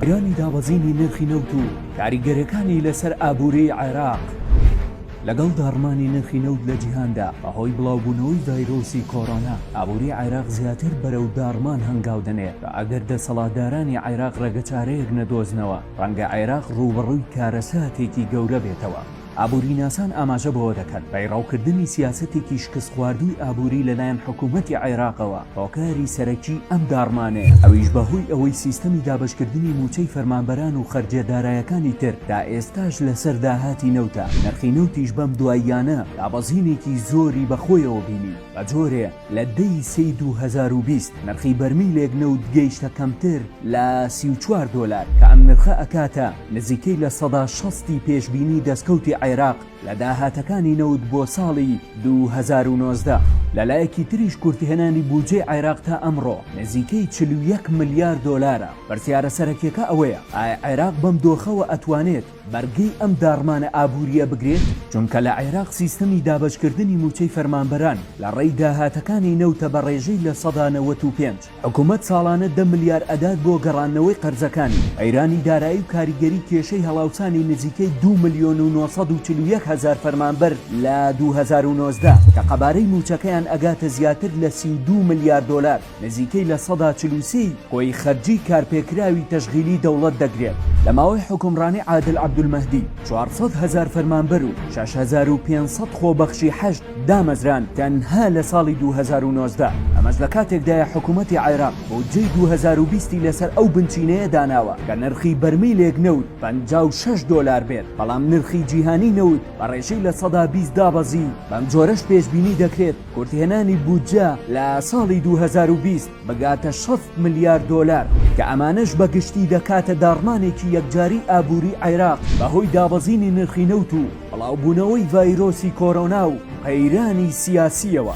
ئەرێنی دابەزینی نرخی نەوت و کاریگەرەکانی لەسەر ئابووری عێراق لەگەڵ داڕمانی نرخی نەوت لە جیهاندا بەهۆی بڵاوبوونەوەی ڤایرۆسی کۆرۆنا ئابووری عێراق زیاتر بەرەو داڕمان هەنگاو دەنێ و ئەگەر دەسەڵاتدارانی عێراق ڕێگەچارەیەک نەدۆزنەوە ڕەنگە عێراق ڕووبەڕووی کارەساتێکی گەورە بێتەوە. ئابووریناسان ئاماژە بەوە دەکەن، پەیڕەوکردنی سیاسەتێکی شکستخواردووی ئابووری لەلایەن حکوومەتی عێراقەوە هۆکاری سەرەکیی ئەم داڕمانەیە، ئەویش بەهۆی ئەوەی سیستەمی دابەشکردنی مووچەی فەرمانبەران و خەرجیە دارایەکانی تر تا ئێستاش لەسەر داهاتی نەوتە، نرخی نەوتیش بەم دواییانە دابەزینێکی زۆری بەخۆیەوە بینی، بەجۆرێ. لە دە ی سێی دوو هەزار و بیست نرخی بەرمیلێک نەوت گەیشتە کەمتر لە سی و چوار دۆلار کە ئەم نرخە ئەکاتە نزیکەی لە سەدا شەست ی پێشبینی دەستکەوتی عێراق لە داهاتەکانی نەوت بۆ ساڵی دوو هەزار و نۆزدە. لەلایەکی تریش کورتهێنانی بودجەی عێراق تا ئەمڕۆ نزیکەی چل و یەک ملیار دۆلارە، پرسیارە سەرەکیەکە ئەوەیە ئایا عێراق بەم دۆخەوە ئەتوانێت بەرگەی ئەم داڕمانە ئابوورییە بگرێت، چونکە لە عێراق سیستەمی دابەشکردنی مووچەی فەرمانبەران لە ڕێی داهاتەکانی نەوتە بە ڕێژەی لە سەدا نەوەت و پێنج، حکومەت ساڵانە دە ملیار ئەدات بۆ گەڕاندنەوەی قەرزەکانی، قەیرانی دارایی و کاریگەری کێشەی هەڵاوسانی نزیکەی دوو ملیۆن و نۆ سەد و چل و یەک هەزار فەرمانبەر لە دوو هەزار و نۆزدە، کە قەبارەی مووچەکەیان ئەگاتە زیاتر لە سی و دوو ملیار دۆلار. نزیکەی لە سەدا چل و سێی خۆی خەرجیی کارپێکراوی تەشغیلی دەوڵەت دەگرێت، لە ماوەی حوکمڕانی عادل عەبدولمەهدی چوار سەد هەزار فەرمانبەر و شەش هەزار و پێنج سەد خۆبەخشی حەشد دامەزراند تەنها لە ساڵی دوو هەزار و نۆزدە، ئەمەش لە کاتێکدایە حکوومەتی عێراق بودجەی دوو هەزار و بیست ی لەسەر ئەو بنچینەیە داناوە کە نرخی بەرمیلێک نەوت پەنجا و شەش دۆلار بێت، بەڵام نرخی جیهانی نەوت بە ڕێژەی لە سەدا بیست دابەزی، بەمجۆرەش پێشبینی دەکرێت، کورتهێنانی بودجە لە ساڵی دوو هەزار و بیست بگاتە شەست ملیار دۆلار، کە ئەمانەش بە گشتی دەکاتە داڕمانێکی یەکجاری ئابووری عێراق بەهۆی دابەزینی نرخی نەوت و بڵاوبوونەوەی ڤایرۆسی کۆرۆنا و قەیرانی سیاسییەوە.